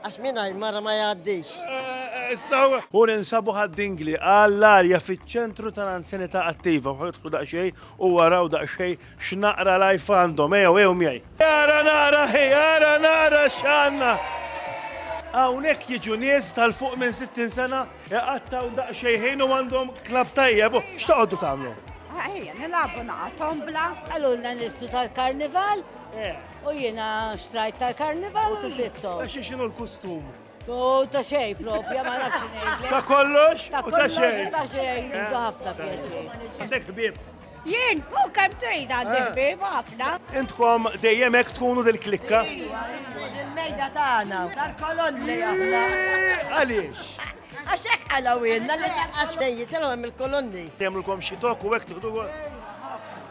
Għax mingħajr mara ma jgħaddix. Hu ninsabu ħad-dingli għall-arja fiċ-ċentru tal-anzjanità attiva. Ħa idħlu daqsxejn u araw daqsxejn x'naqra life għandhom. Ejjew, ejjew miegħi. Ara nara hi, ara nara x'għandna! Hawnhekk jiġu nies tal-fuq minn 60 sena iqattgħu daqsxejn ħin u għandhom klabb tajjeb. X'toqgħodu tagħmlu? Ejja, nilagħbu naqa' tombla. Qalulna nifsu tal-karnival. U jiena xtrajt tal-karnival u l-bistom. Ta' xi xinu l-kustum? U ta' xej propja, ma nafx xejn. Ta' kollox? Ta' kollox u ta' xej. Eh. Intu ħafna pjaċi. Għandek ħbib? Jien, u kem trid għandi eh. ħbib, ħafna. Intkom dejjem hekk tkunu dil-klikka? Il-mejda tagħna, tal-kolonni aħna. Eh, għaliex? Għaxek għalawin, għalawinna li għaxtejn jitilgħu hemm il-kolonni. Temlkom xi tok u hekk tieħdu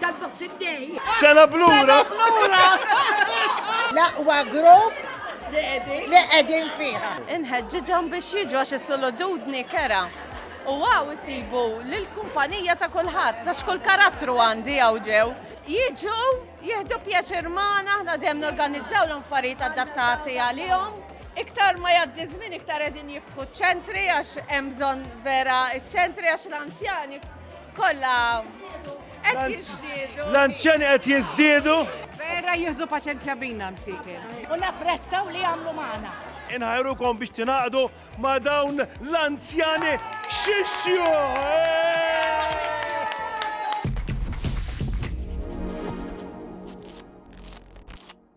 Tal-Boxing Day. Sena blura. L-aqwa grupp li qegħdin fiha. Inħeġġiġhom biex jiġu għax is-solodudni kera. U għaw isibu l-kumpanija ta' kulħadd, ta' xkull karattru għandi għaw ġew. Jiġu, jihdu pjaċir maħna, ħna dem norganizzaw l-affarijiet adattati għalihom. Iktar ma jaddi żmien iktar qegħdin jiftħu ċentri għax hemm bżonn vera ċentri għax l-anzjani Kolla qed jiżdiedu. L-anzjani qed jiżdiedu. Vera jieħdu paċenzja bina msikin. U napprezzaw li jagħmlu magħna. Inħajrukom biex tingħaqdu ma' dawn l-anzjani xixxju.